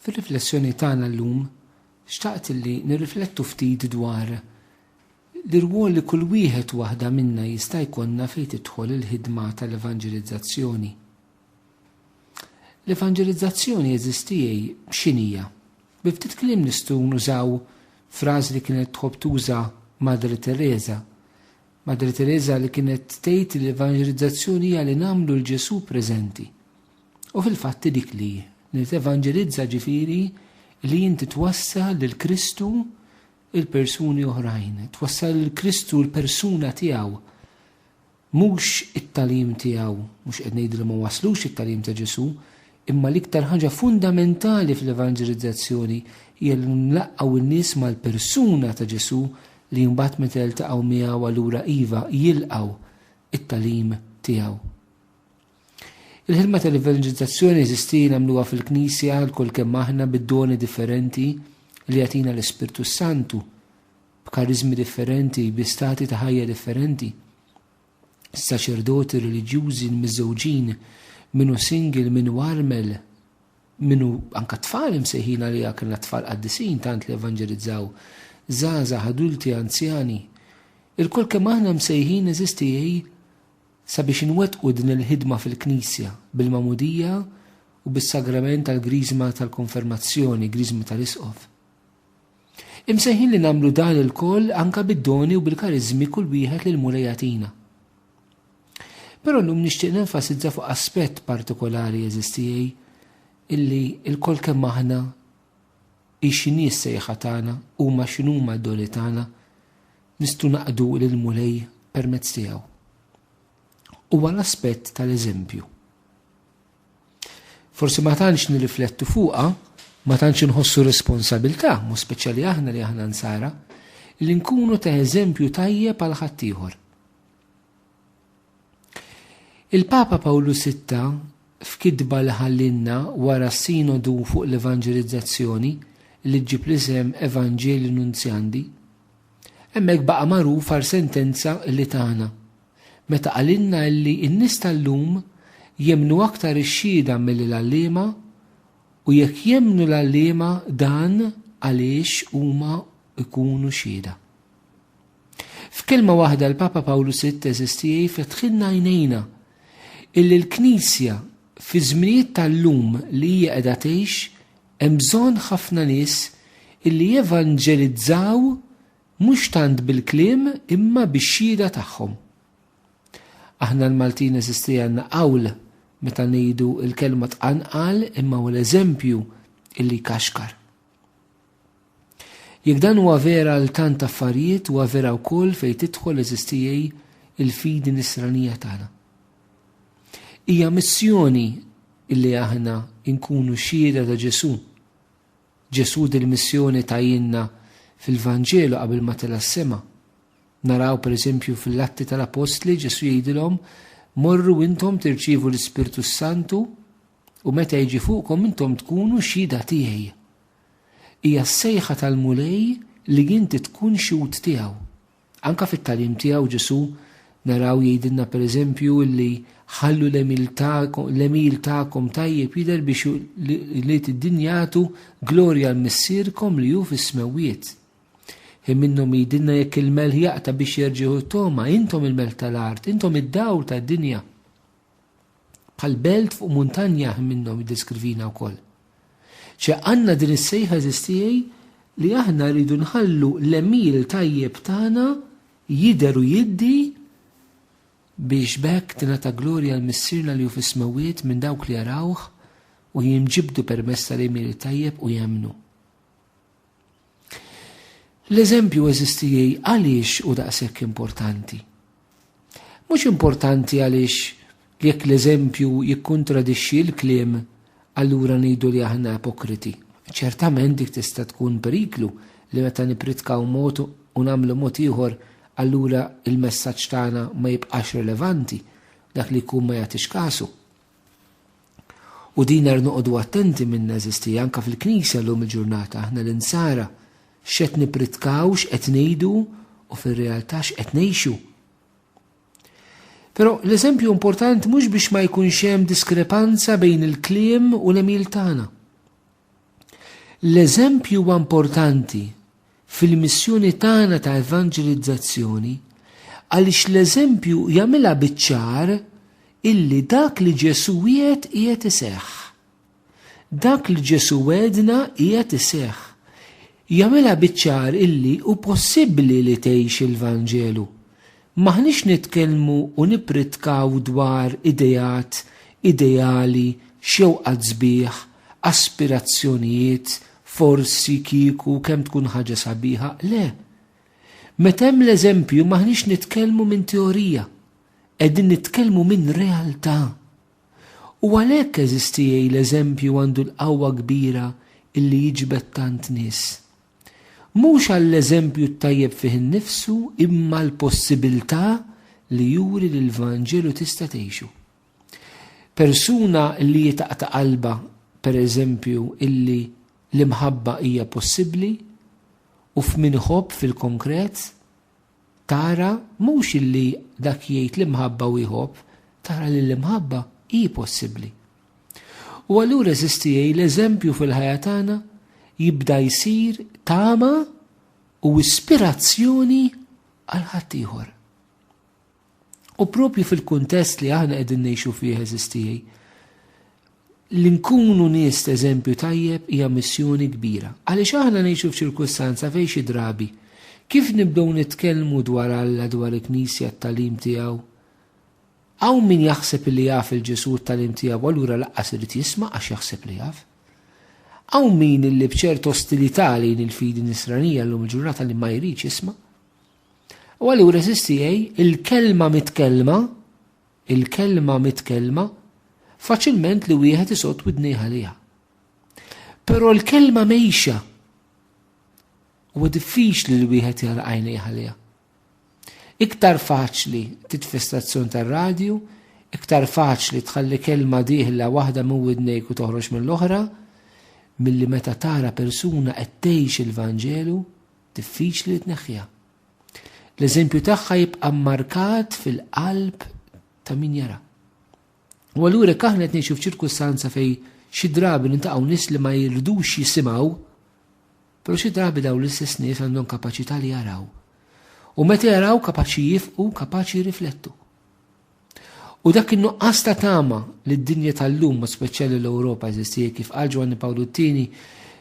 Fir-riflessjoni tagħna llum xtaqt li nirriflettu ftit dwar l-irwol li kull wieħed u waħda minna jista' jkollna fejn tidħol il-ħidma tal-evanġelizzazzjoni. L-evanġelizzazzjoni eżistijie x'inhija? Bi ftit kliem nistgħu nużaw frażi li kienet tħobb tuża Madre Tereża. Madre Tereża li kienet tgħid li l-evanġelizzazzjoni hija li nagħmlu lil Ġesù preżenti. U fil-fatt hi dik li li tevanġelizza ġifieri li inti twassal lil Kristu il persuni oħrajn, twassal lil Kristu l-persuna tiegħu. Mhux it-talim tiegħu, mhux qed ngħidu li ma waslux it-talim ta' Ġesu, imma l-iktar ħaġa fundamentali fl-evanġelizzazzjoni hija li nlaqqgħu n-nies mal-persuna ta' Ġesu li mbagħad meta jiltaqgħu miegħu allura iva jilqgħu it-talim tiegħu. Il-ħidma tal-evanġelizzazzjoni jeżisti nagħmluha fil-Knisja lkoll kemm aħna bid-doni differenti li jagħtina l-Ispirtu s-Santu, b'kariżmi differenti, bi stati ta' ħajja differenti. Saċerdoti, reliġjużi, l-miżżewġin, min hu single, min hu armel, min hu anke tfal imsejħin għaliha kellna tfal qaddisin tant li evanġelizzaw, żgħażagħ, adulti, anzjani. Ilkoll kemm aħna msejħin eżisti Sabiex inwettqu din il-ħidma fil-Knisja, bil-Magħmudija u bis-Sagrament tal-Griżma tal-Konfermazzjoni, Griżma tal-Isqof. Imsejħin li nagħmlu dan ilkoll anke bid-doni u bil-kariżmi kull wieħed li l-Mulej jagħtina. Però llum nixtieq nenfasizza fuq aspett partikolari eżistijej illi il-kol kemm aħna ixi nies sejħa tagħna huma x'inhuma d-doni tagħna Nistgħu naqdu lill-Mulej permezz tiegħu. Huwa l-aspett tal-eżempju. Forsi ma tantx nirriflettu fuqha, ma tantx inħossu responsabilità, mu speċjali aħna li aħna nsara, li nkunu ta' eżempju tajjeb għal ħaddieħor. Il-Papa Pawlu Sitta, f'kitba li ħallielna wara s-Sinodu fuq l-Evanġelizzazzjoni, li ġġib l-isem Evangelii Nuntiandi, hemmhekk baqa' magħruf għal sentenza li tana, meta qalilna illi n-nies tal-lum jemmnu aktar ix-xhieda milli l-għalliema u jekk jemmnu l-għalliema dan għaliex huma jkunu xhieda. F'kelma waħda l-Papa Pawlu Sitt teżisti hi fetħilna għajnejna illi l-Knisja fiż-żminijiet tal-lum li hija qiegħda tgħix hemm bżonn ħafna nies illi jevanġelizzaw mhux tant bil-kliem imma bix-xhieda tagħhom. Aħna l-Maltin eżisti għandna qawl meta ngħidu l-kelma tqanqal imma hu l-eżempju illi jkaxkar. Jekk dan huwa vera għal tant affarijiet, huwa vera wkoll fejn tidħol eżistijej il-fidi nisranija tagħna. Hija missjoni illi aħna nkunu xhieda ta' Ġesù. Ġesù dil-missjoni tajinna fil-Vanġelu qabel ma tela' s-sema. Naraw pereżempju fil-Atti tal-Apostli Ġesù jgħidilhom morru intom tirċievu l-Ispirtu s-Santu U meta jiġi fuqkom intom tkunu xhieda tiegħi. Hija s-sejħa tal-Mulej li inti tkun xhud tiegħu. Anke fit-tagħlim tiegħu Ġesù naraw jgħidilna pereżempju li ħallu l-għemil tagħkom tajjeb jidher biex li d-din jagħtu glorja għal Missierkom li hu fis-smewwiet. Hi minnhom jgħidilna jekk il-melħ jaqta' biex jerġieħu t-togħma, intom il-melħ tal-art, intom id-dawl tad-dinja. Bħal belt fuq muntanja ħin minnhom jiddeskrivina wkoll. Ċe għandna din is-sejħa għeżież tiegħi li aħna rridu nħallu l-għemil tajjeb tagħna jidher u jiddi biex b'hekk tingħata glorja għal Missierna li hu fis-Smewwiet minn dawk li jarawh u jinġibdu permezz tal-għemil it-tajjeb u jemmnu. L-eżempju eżistijie għaliex hu daqshekk importanti? Mhux importanti għaliex jekk l-eżempju jikkuntradixxi l-kliem allura ngħidu li aħna ipokriti. Ċertament dik tista' tkun periklu li meta nippritkaw mod u nagħmlu mod ieħor allura l-messaġġ tagħna ma jibqax relevanti, dak li jkun ma jagħtix kasu. U din għar noqogħdu attenti min neżisti anke fil-Knisja llum il-ġurnata aħna l-insara x'qed nippritkaw, x'qed ngħidu u fir-realtà x'qed ngħixu. Però l-eżempju importanti mhux biex ma jkunx hemm diskrepanza bejn il-kliem u l-emil tagħna. L-eżempju huwa importanti fil-missjoni tagħna ta' evanġelizzazzjoni għaliex l-eżempju jagħmilha biċ-ċar illi dak li Ġesù wiegħed qiegħed iseħħ. Dak li Ġesù wegħedna qiegħed iseħħ. Jagħmilha biċ-ċar illi hu possibbli li tgħix il-Vanġelu M'aħniex nitkellmu u nippritkaw dwar ideat, ideali, xewqat sbieħ, aspirazzjonijiet, forsi, kieku, kemm tkun ħaġa sabiħa, le. Meta hemm l-eżempju m'aħniex nitkellmu minn teorija, qegħdin nitkellmu minn realtà. U għalhekk, għeżiż tiegħi, l-eżempju għandu l-qawwa kbira illi jiġbed tant nies. Mhux għall-eżempju t-tajjeb fih innifsu imma l-possibilità li juri li l-Vanġelu tista' tgħixu. Persuna li jitaqta' qalbha, pereżempju, illi l-imħabba hija possibbli u f'min iħobb fil-konkret, Tara mhux li dak jgħid l-imħabba u jħobb, tara li l-imħabba hi possibbli. U allura eżistieej l-eżempju fil-ħajja tagħna jibda jsir tama u ispirazzjoni għal ħaddieħor. U propju fil-kuntest li aħna qegħdin ngħixu fih eżis tiegħi, li nkunu nies ta' eżempju tajjeb hija missjoni kbira. Għaliex aħna ngħixu f'ċirkustanza fejn xi drabi kif nibdew nitkellmu dwar Alla, dwar il-Knisja, t-tagħlim tiegħu, hawn min jaħseb li jaf il-Ġesù t-tagħlim tiegħu allura laqqas irid jisma' għax jaħseb li jaf. Hawn min illi b'ċert ostilità lejn il-fidi nisranija llum il-ġurnata li ma jridx jisma'. U allura SCA, il-kelma mitkellma, il-kelma mitkellma, faċilment li wieħed isott widnejh għaliha. Però l-kelma mejxa huwa diffiċli li wieħed jara għajnejh għaliha. Iktar faċli titfestazzjon tar-radju, iktar faċli tħalli kelma diħla waħda minn widnejk u toħroġ mill-oħra, milli meta tara persuna qed tgħix il-Vanġelu, diffiċli li tneħħiha. L-eżempju tagħha jibqa' mmarkat fil-qalb ta' min jara. U allura jekk aħna qed ngħixu f'ċirkustanza fejn xi drabi nintaqgħu nies li ma jirdux jisimgħu, però xi drabi dawn l-istess nies għandhom kapaċità li jaraw. U meta jaraw kapaċi jifqu, kapaċi jirriflettu. U dak in-nuqqas ta' tama li d-dinja tal-lum, b'mod speċjali l-Ewropa, eżisti hija kif qal Ġwanni Pawlu t-Tieni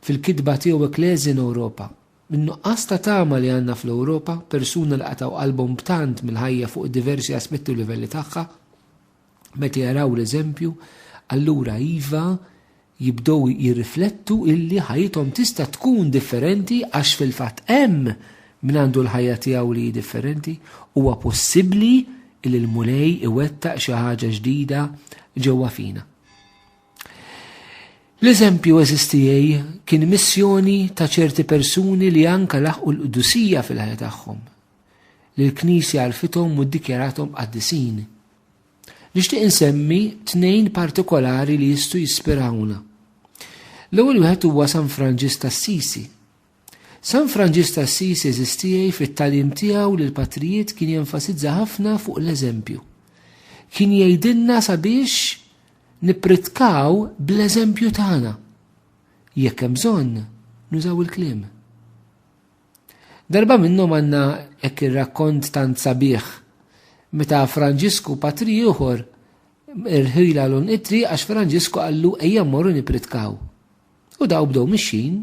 fil-kitba tiegħu Ecclesia in Europa. In-nuqqas ta' tama li għandna fl-Ewropa, persuna li qatgħu qalbhom b'tant mill-ħajja fuq diversi aspetti u livelli tagħha, meta jaraw l-eżempju, allura iva, jibdew jirriflettu illi ħajjithom tista' tkun differenti għax fil-fatt hemm min għandu l-ħajja tiegħu li hi differenti, huwa possibbli illi l-Mulej iwettaq xi ħaġa ġdida ġewwa fina. L-eżempju eżiż tiegħi kien missjoni ta' ċerti persuni li anke laħqu l-qdusija fil-ħajja tagħhom, li l-Knisja għarfithom u ddikjarathom qaddisin. Nixtieq insemmi tnejn partikolari li jistgħu jispirawna. L-ewwel wieħed huwa San Franġis t'Assisi. San Franġis t'Assisi eżistiej fit-tagħlim tiegħu li l-patrijiet kien jenfasizza ħafna fuq l-eżempju. Kien jgħidilna sabiex nippritkaw bl-eżempju tagħna. Jekk hemm bżonn, nużaw il-kliem. Darba minnhom għandna hekk ir-rakkont tant sabiħ meta Franġisku patri ieħor irħila lun it-triq għax Franġisku qallu ejja mmorru nippritkaw. U daw bdew mixjin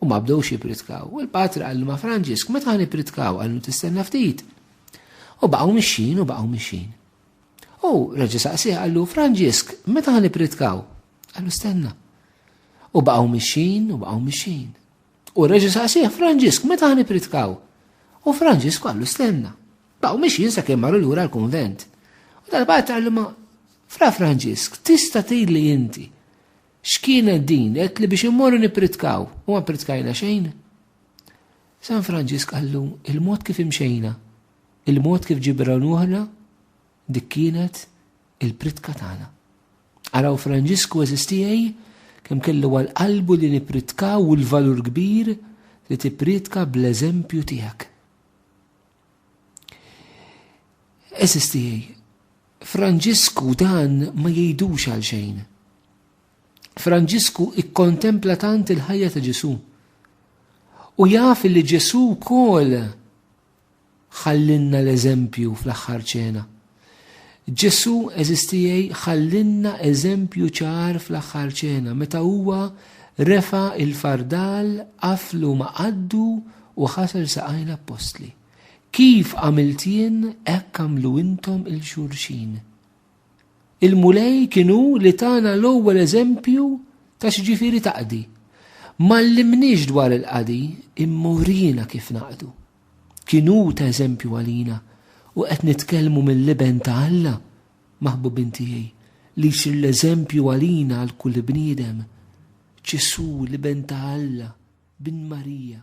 u ma bdewx jippritkaw. U l-patri qallu ma' Franġisk meta ħan ippritkaw qallu tistenna ftit. U baqgħu mixjin u baqgħu mixjin. U reġa' saqsih qallu Franġisk meta ħan ippritkaw? Qallu stenna. U baqgħu mixjin u baqgħu mixjin. U reġa' saqsieh, Franġisk, meta ħa nippritkaw? U Franġisk qallu stenna. Baqgħu mixjin sakemm marru lura l-kunvent. U darba għad qallu ma' Fra Franġisk, tista' tgħidli inti x'kienet din qed li biex immorru nippritkaw u ma ppritkajna xejn? San Franġisk qallu il-mod kif imxejna, il-mod kif ġibrawnuħna dik kienet il-pritka tagħna. Araw Franġisku għeżiż tiegħi kemm kellu għal qalbu li nippritkaw u l-valur kbir li tippriedka bl-eżempju tiegħek. Għeżiż tiegħi, Franġisku dan ma jgħidux għal xejn. Franġisku ikkontempla tant il-ħajja ta' Ġesu. U jaf li Ġesu wkoll Ħallinna l-eżempju fl-aħħar ċena. Ġesù għeżistiegħi ħallinna eżempju ċar fl-aħħar ċena meta huwa refa' il-fardal, qaflu ma' qaddu u ħasel saqajn l-appostli. Kif għamilt jien hekk għamlu intom 'il xulxin. Il-Mulej kien hu li tana l-ewwel eżempju ta' x'ġifieri taqdi. M'għallimniex dwar il-qadi, imma uriena kif naqdu. Kien hu ta' eżempju għalina u qed nitkellmu mill-Iben ta' Alla, maħbubin tiegħi, li jsir l-eżempju għalina għal kull bniedem. Ġesù, l-Iben ta' Alla, bin Marija.